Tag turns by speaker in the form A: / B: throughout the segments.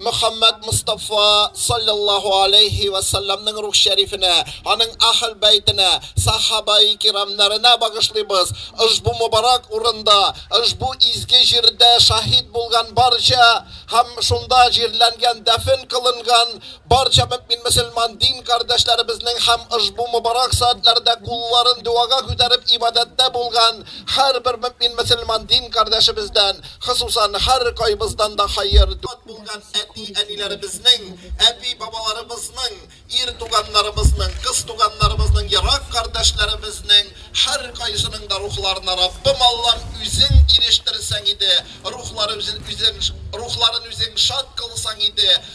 A: Мөхәммәд Мостафа салләллаһу аләйһи вә сәлләмнең рух шәрифенә, аның Әһл бәйтенә, Сахабаи кирамнарына багышлыйбыз. Ошбу мөбарәк урында, ошбу изге җирдә шаһит булган барча һәм шунда җирләнгән, дәфен кылынган барча мөэмин-мөселман дин кардәшләребезнең һәм ошбу мөбарәк сәгатьләрдә кулларын догага күтәреп ибадәттә булган һәрбер мөэмин-мөселман дин кардәшебездән Хосусан, һәркайбыздан да хәер, дат булган әти-әниләребезнең, әби-бабаларыбызның, ир туганнарыбызның, кыз туганнарыбызның, ерак кардәшләребезнең һәркайсының да рухларына, Раббым Аллам, Үзең ирештерсәң иде, рухлары үзен рухларын Үзең шат кылсаң иде,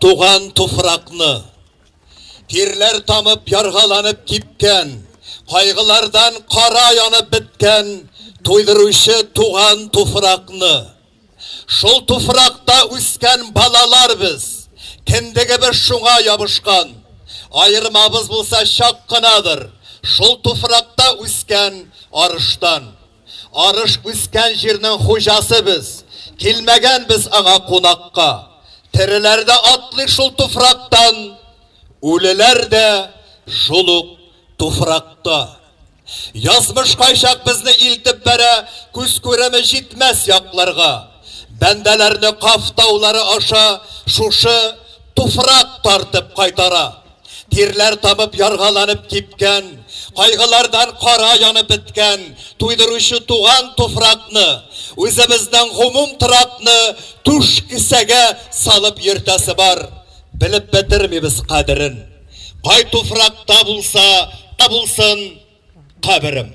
A: Туган туфракны, тирләр тамып, яргаланып кипкән, кайгылардан кара янып беткән туйдыручы туган туфракны, шул туфракта үскән балалар без, кендегебез шуңа ябышкан, аермабыз булса чак кынадыр шул туфракта үскән арыштан. Арыш үскән җирнең хуҗасы без, Килмәгән без аңа кунакка. Тереләр дә атлый шул туфрактан, Үлеләр дә шул ук туфракта. Язмыш кайчак безне илтеп бәрә Күз күреме җитмәс якларга. Бәндәләрне Каф таулары аша Шушы туфрак тартып кайтара. Тирләр табып, яргаланып кипкән, кайгылардан кара янып беткән, туйдыручы туган туфракны, үзебезнең гомум торакны түш кесәгә салып йөртәсе бар. Белеп бетермибез кадерен. Кай туфракта булса да булсын каберем.